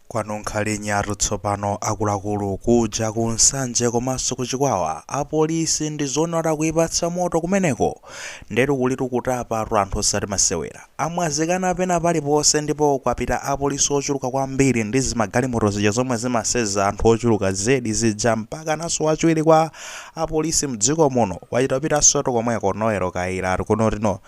Kwanunkha linyatu tsopano akuluakulu kuja ku Nsanje komanso ku Chikwawa apolisi ndizoona kuti akuipatsa moto kumeneko ndetu kulitu kutapatu anthu osati masewera. Amwazikana pena paliponse ndipo kwapita apolisi ochuluka kwambiri ndi zimagalimoto zija zomwe zimaseza anthu ochuluka zedi zija mpakananso wachiwiri kwa apolisi mdziko muno wachita kupitasotu komweko Noel Kayira ati kuno tino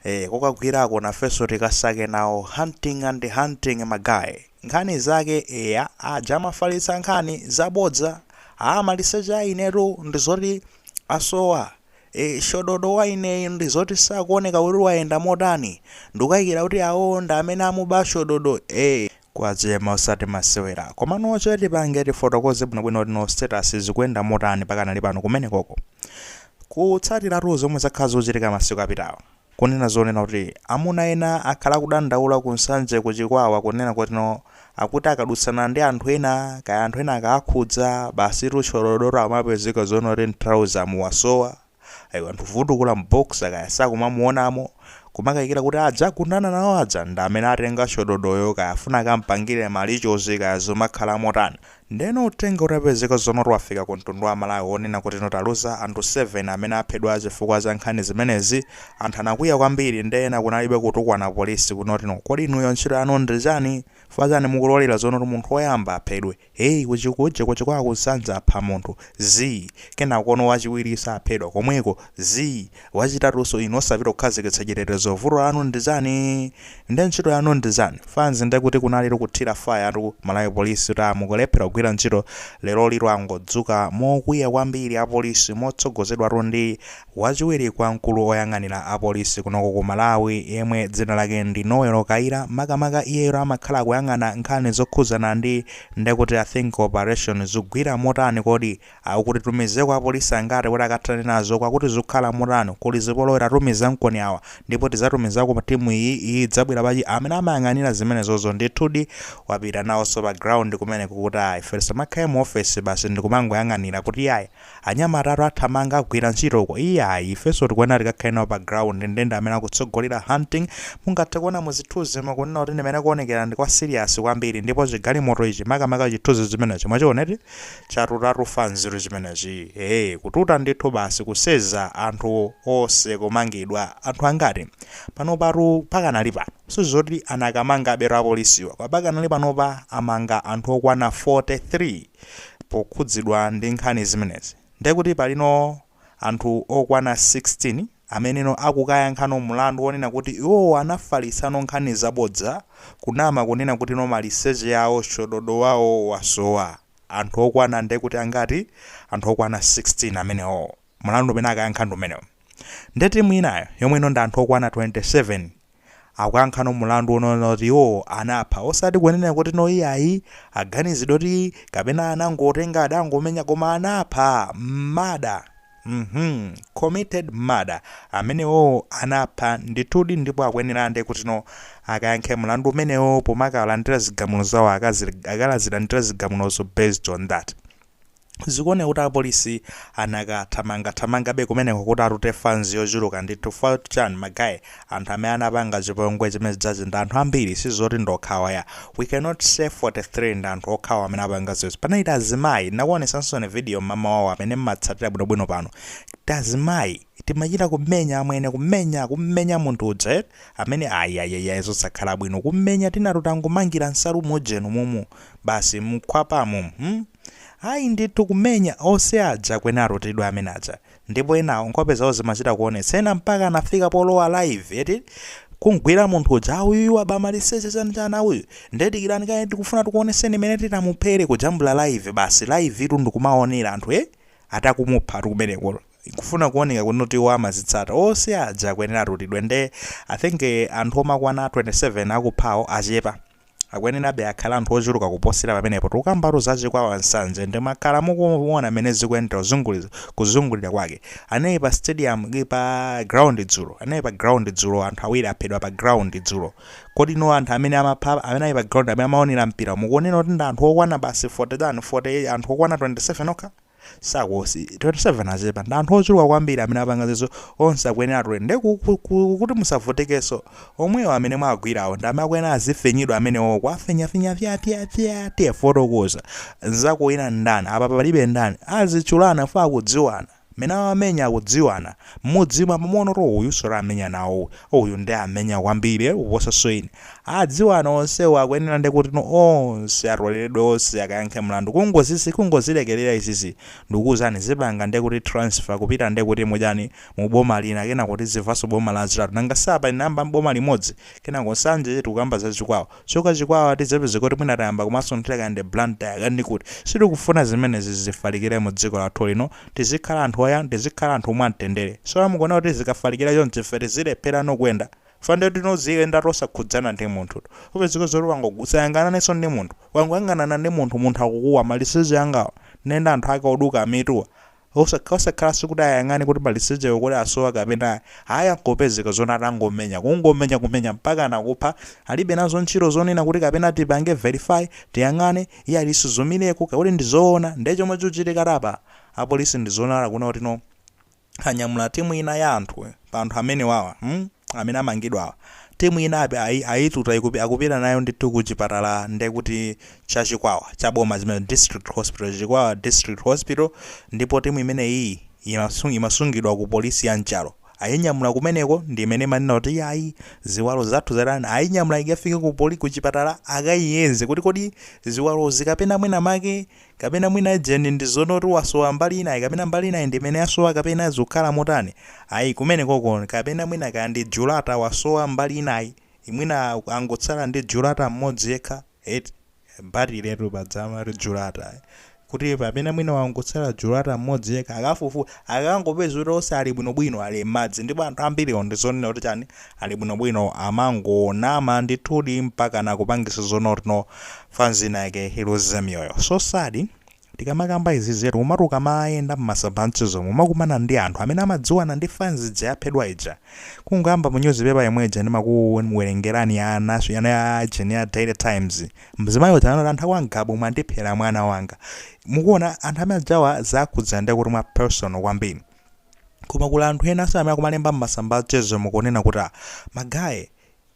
Eee kokagwirako nafeso tikasake nawo hunting and hunting ma guy nkhani zake eya aja amafalitsa nkhani zabodza aa maliseche a inetu ndizoti asowa ee shododo waineyi ndizoti sakuoneka kuti wayenda motani ndikukaikira kuti awo ndi amene amuba shododo ee kwachema osati masewera. komano choti tipange tifotokoze bwinobwino kuti no status zikuyenda motani pakanali pano kumenekoko. kutsatiratu zomwe zakhala zikuchitika masiku apitawa. kunena zonena kuti amuna ena akhala akudandaula ku nsanje ku chikwawa kunena kuti no akuti akadutsana ndi anthu ena kaya anthu ena akawakhudza basitu shododo amapezeka zoona kuti mtrouser mu wasowa. Ayi anthu vundukula m'boxer kaya sakumamuonamo kumakayikira kuti aja agundana nawo aja ndi amene atenga shododoyo kaya afuna akampangire ma rituals kaya zomakhala motani. Ndeno uthenga utapezeka zonoti wafika ku mtundu wa Malawi wonena kuti no taluza anthu 7 amene aphedwa chifukwa cha nkhani zimenezi. Anthu anakwiya kwambiri nde ena kunalibe kutukwana apolisi kunotino kodi inuyo ntchito yanu ndi chani? Chifukwa chani mukulolera zonoti munthu woyamba aphedwe? Hey ku Chikuja ku Chikwawa ku Nsanje apha munthu, zii, kenakono wachiwiriso aphedwa komweko, zii, wachitatunso inu osapita kukhazikitsa chitetezo vuto lanu ndichani? Nde ntchito yanu ndichani? Fanzi nde kuti kunalitu kuthira fire tu Malawi Police kuti aa mukulephera kugwira ntchito lerolitu angodzuka mokwiya kwambiri apolisi motsogozedwatu ndi Wachiwiri kwa mkulu oyang'anira a polisi kunoko ku Malawi yemwe dzina lake ndi Noel Kayira makamaka iyeyotu amakhala akuyang'ana nkhani zokhudzana ndi nde kuti I think operation zugwira motani kodi a uku titumizeko apolisi angati kuti akathane nazo kwa kuti zukhala motani kuli zipolowe tatumizankoni awa ndipo tizatumizako timu iyi iyi idzabwera pa chi amene amayang'anira zimenezozo ndithudi wapita nawoso pa ground kumeneko kuti ayi ife tisamakhale mu ofesi basi ndikumangoyang'anira kuti ayi Anyamatatu athamanga agwira ntchito uko. Iyayi, ifenso tikuyenera tikakhale nawo pa ground nde ndi amene akutsogolera hunting. Mungathe kuona mu zithunzimo kunena kuti ndi mmene kuonekera ndi kwa serious kwambiri ndipo chigalimoto ichi makamaka chithunzi chimenechi mwachiona eti? Chatutatu fanzitu chimenechi. Eeh, kututa ndithu basi kuseza anthu onse kumangidwa. Anthu angati? Panopatu pakanali pano, sizoti anakamangabetu apolisiwa, koma pakanali panopa amanga anthu okwana 43. pokhudzidwa ndi nkhani zimenezi ndekuti palino anthu okwana 16 ameneno akukayankhano mulandu onena kuti iwowo anafalitsano nkhani zabodza kunama kunena kutino maliseche yawo chododo wawo wasowa anthu okwana ndekuti angati anthu okwana 16 amenewowo mulandu umene akayankha ndi umenewo nde timu inayo yomwe ino ndi anthu okwana 27 akuyankhano mulandu onena kuti iwo anapha osati kunena kuti no iyayi aganizidwa kuti kapena anangotenga adangomenya koma anapha murder mhm committed murder amenewo anapha ndithudi ndipo akuyenera nde kutino akayankhe mulandu umenewo pomakalandira zigamulo zawo akazir akalazilandira zigamulozo based on that Zikuoneka kuti apolisi anakathamangathamangabe kumeneko kuti atute fanzi yochuluka ndi chifukwa choti chani ma guy anthu amene anapanga chipongwe chimenechija ndi anthu ambiri sizoti ndi okhawa ayi we cannot say 43 ndi anthu okhawa amene apanga izi panali tiazimayi ndinakuonetsaninso video mmamawawa amene mmatsatira bwinobwino pano tiazimayi timachita kumenya amwene kumenya kummenya munthu uja eti amene ayayayaya zosakhala bwino kummenya tinatu tangomangira nsalu mujeni momo basi mkhwapamo hmm? ayi ndithu kumenya onse aja akuyenera atoledwe amene aja ndipo enawo nkhope zawo zimachita kuonetsa ena mpaka anafika polowa live eti kumgwira munthu uja auyu wabamaliseche chanchani auyu ndedikirani kaye tikufuna tikuoneseni mmene titamuphere kujambula live basi live itu ndikumaonera anthu e eti akumupha eti kumeneko kufuna kuoneka kuno kuti iwo amazitsata onse aja akuyenera atutidwe nde i think anthu omakwana 27 akuphawo achepa akuyenerabe akhale anthu ochuluka kuposera pamenepo tikukambatu za chikwawa nsanje ndi mwakhala mukuona mene zikuendera kuzunguli- kuzungulira kwake anali pa stadium ki- pa ground dzulo anali pa ground dzulo anthu awiri aphedwa pa ground dzulo kodi no anthu amene amapha amene ali pa ground amene amaonera mpira mukuonera kuti ndi anthu okwana basi 40 tani 40 anthu okwana 27 okha sangakhale 27 achepa ndi anthu ochuluka kwambiri amene apanga zizo onse akuyenera atutidwe nde ku- ku- ku- kuti musavutekenso omwewo amene mwagwirawo ndi amene akuyenera azifinyidwa amenewo kuwafinyafinya fyafyafya tiye fotokoza nzako ina ndani apa panalibe ndani azitchulana for akudziwana amene amamenya akudziwana mmudzimo pamenepoto uyuso anamenya nawo uyu nde anamenya kwambiri kuposaso ine Adziwana onsewo akuyenera nde kutino onse atoleledwe onse akayankhe mlandu kungozizi kungozilekelera izizi ndikukuuzani zipanga nde kuti transfer kupita nde kuti mujeni mu boma lina kenako tizimvaso boma lachitatu nanga si apa inayamba mboma limodzi kenako nsanje tikukamba za chikwawa kuchoka chikwawa tizapezeka kuti mwina tayamba kumasunthira kaya ndi Blantyre kaya ndi kuti sitikufuna zimenezi zifalikire mu dziko lathu lino tizikhala anthu oyan tizikhala anthu mwamtendere so mukuona kuti zikafalikira chonchi ife tizilepherano kuyenda Chifukwa ndiye kuti muziyenda tosakhudzana ndi munthu. Upezeka zoti wango usayang'ananenso ndi munthu. Wangoyang'anana ndi munthu munthu akukuwa maliseche angawa. Nde anthu ake oduka mituwa. Osakha osakhalanso kuti ayang'ane kuti malisechewo kuti asowa kapena ayi. Ayi nkupezeka zoti atangomenya. Kungomenya kumenya mpakana kupha. Alibe nazo ntchito zonena kuti kapena tipange verify, tiyang'ane, iyayi tisuzumireko, kuti ndi zoona. Ndiye chomwe chikuchitikatu apa, apolisi ndi zoonadi akuona kuti no. anyamula timu ina ya anthu pa anthu amenewawa hmm? amene amangidwawa timu ina api- ayi- ayituta ikupi- akupita nayo ndithu ku chipatala ndekuti cha chikwawa cha boma imene district hospital chikwawa district hospital ndipo timu imeneyi imasung- imasungidwa ku polisi ya Nchalo ayinyamula kumeneko ndi imene imanena kuti ayi ziwalo zathu zatani ayinyamula ikafike ku poli ku chipatala akayiyeze kuti kodi ziwalozi kapena mwina make kapena mwina ujeni ndi zoti oti wasowa mbali inayi kapena mbali inayi ndi imene yasowa kapena zikukhala motani ayi kumene koko kapena mwina kaya ndi julata wasowa mbali inayi mwina angotsala ndi julata mmodzi yekha eti pajatu paja timati julata kuti kapena mwina wangotsala julata mmodzi yekha akafufu akangopeza kuti onse ali bwinobwino ali m'madzi ndipo anthu ambiriwo ndi zonena kuti chani ali bwinobwino amangonama ndithudi mpaka nakupangisa zonena kuti no fans ina yake iluze miyoyo so sad tikamakamba izizetu umatu ukamayenda m'masamba a mchezomu umakumana ndi anthu amene amadziwana ndi fans ija yaphedwa ija kungoyamba mu newspaper yomwe ija ndimakuwerengerani ya naso yana ya ujeni ya daily times mzimayi uja anati anthu akwa Ngabu mwandiphera mwana wanga mukuona anthu amene ajawa zawakhudza ndi kuti mwa personal kwambiri koma kuli anthu ena amene akumalemba m'masamba a mchezomu kunena kuti "Ah, magaye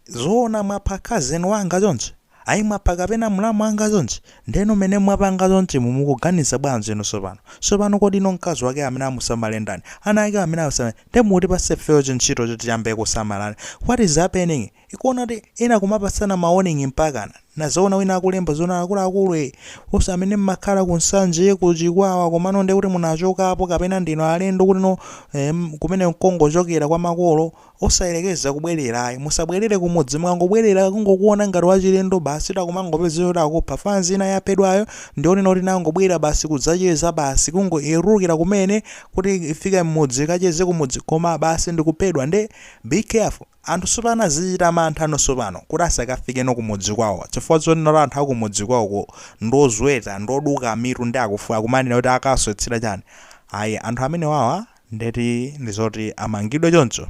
Zoona mwapha cousin wanga chonchi? Ayi mwapha kapena mlamu wanga chonchi? Ndeno mene mwapanga chonchimu mukuganiza bwanji inu sopano? Sopano kodi inu mkazi wakeyo amene amusamale ndani? Ana akewo amene awasamale ndani? Nde mukutipatsa ifeyo chintchito choti tiyambe kusamala what is happening? Ukuona kuti ena akumapatsana ma warning mpakana? Ndazaona wina akulemba zoona akuluakulu ee nonse amene mmakhala ku Nsanje, ku Chikwawa komano ndekuti munachokapo kapena ndinu alendo kuti no em kumene n'kongochokera kwa makolo? Osayerekeza kubwerera ayi, musabwerere kumudzi mukangobwerera akungokuona ngati wachilendo basi takumangopezeka kuti akupha fanzi ina yaphedwayo ndi yonena kuti inangobwera basi kudzacheza basi kungoyelukira kumene kuti ifike mmudzi ikacheze kumudzi koma basi ndikuphedwa nde be careful anthu sopano akuchita mantha no sopano kuti asakafike no kumudzi kwawo chifukwa zonena kuti anthu akumudzi kwawoko ndi ozweta ndi oduka mitu nde akumanena kuti akaswetsera chani ayi anthu amenewawa ndeti ndizoti amangidwe choncho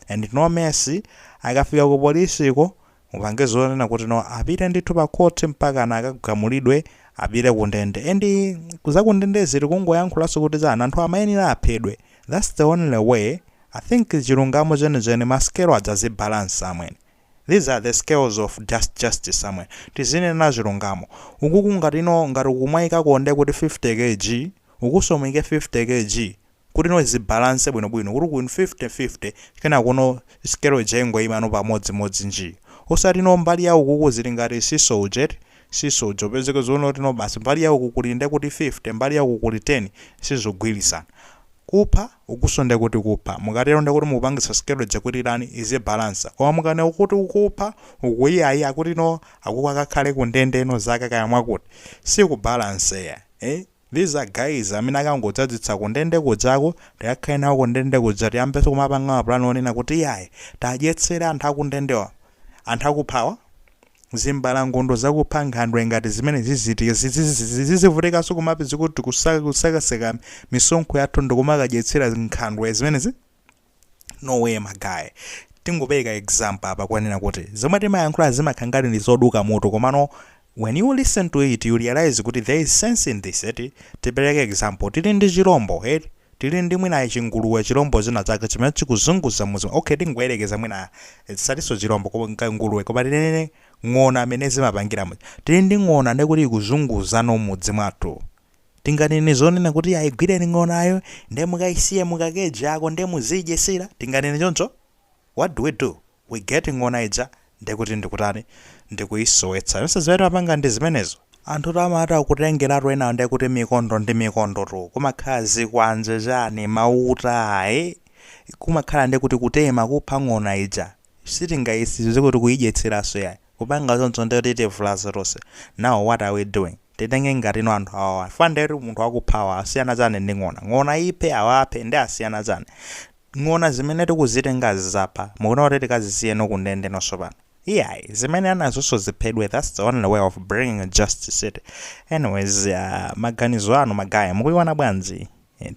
and no mercy akafika ku police ko mupange zoona kuti no apite ndithu pa court mpakana akagamulidwe apite ku ndende and za ku ndendezo tikungoyankhulanso kuti chani anthu amayenera aphedwe that's the only way I think chilungamo chenicheni masikelo adzazibalansa somewhere. These are the scales of just justice somewhere. Tizinenena chilungamo. Ukuku ngati no ngati mukumaikako nde kuti 50 kg, ukunso muyike 50 kg kuti no zibalance bwino bwino kuti uku 50 50 kenako no scale ija ingoyima no pamodzi modzi njii. Osati no mbali ya ukuku zili ngati seesaw uja eti, seesaw uja ipezeke zoti no basi mbali ya uku kuli nde kuti 50 mbali ya uku kuli 10 sizogwirizana. Kupha, ukunso ndekuti kupha. Mukatero ndekuti mukupangitsa scale ija kuti itani izibalansa. Koma mukanena kuti uku kupha, uku iyayi akuti no, akuku akakhale ku ndende ino zaka kaya mwakuti. Sikubalance yayi. Eh? These are guys amene akangodzadzitsa ku ndende kujako, tikakhale nawo ku ndende kuja tiyambenso kumapanga ma plan onena kuti iyayi, tiwadyetsere anthu akundendewa, anthu akuphawa. zimbalangondo zakupha nkhandwe ngati zimenezi ziziti tizivutikanso koma mbizi kuti kusakasaka misonkho yathu ndikumakadyetsera nkhandwe zimenezi no way ma guy tingopereka example apa kunena kuti zomwe timayankhula zimakhala ngati ndi zoduka mutu komano when you listen to it you realize kuti there is sense in this eti tipereke example tili ndi chilombo eti Tili ndi mwina chinguluwe, chilombo china chake chimene chikuzunguza mudzi, okay tingoyerekeza mwina tisatinso chilombo cha nguluwe koma tinene ng'ona mmene zimapangira muja. Tili ndi ng'ona ndiye kuti ikuzunguza no m'mudzi mwathu. Tinganene zonena kuti ayi igwireni ng'onayo ndiye mukaisiye mu ka cage kake ndiye muziidyetsera? Tinganene choncho? What do we do? we get ng'ona ija ndekuti ndikutani ndikuyisowetsa tonse zimene timapanga ndizimenezo anthutu amati akutengeratu enawo ndekuti mikondo ndi mikondo tu kumakhala zikwanje chani mauta ee kumakhala ndekuti kutema kupha ng'ona ija sitingayisize kuti kuyidyetseranso yayi kupanga choncho ndekuti itivulaza tonse now what are we doing titenge ngati no anthu awawa chifukwa ndekuti munthu wakuphayu asiyana chani ndi ng'ona ng'ona iphe awa aphe nde asiyana chani Ng'ona zimene tikuzitengazi zapha, mukuona kuti tikazisiye no ku ndende nazonso pano? Iyayi, zimenezo nazonso ziphedwe that's the only way of bringing justice eti? Anyways, aah, maganizo anu ma guy, mukuiona bwanji?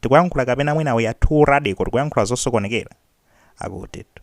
Tikuyankhula kapena mwina we are too radical, tikuyankhula zosokonekera? Akutitu.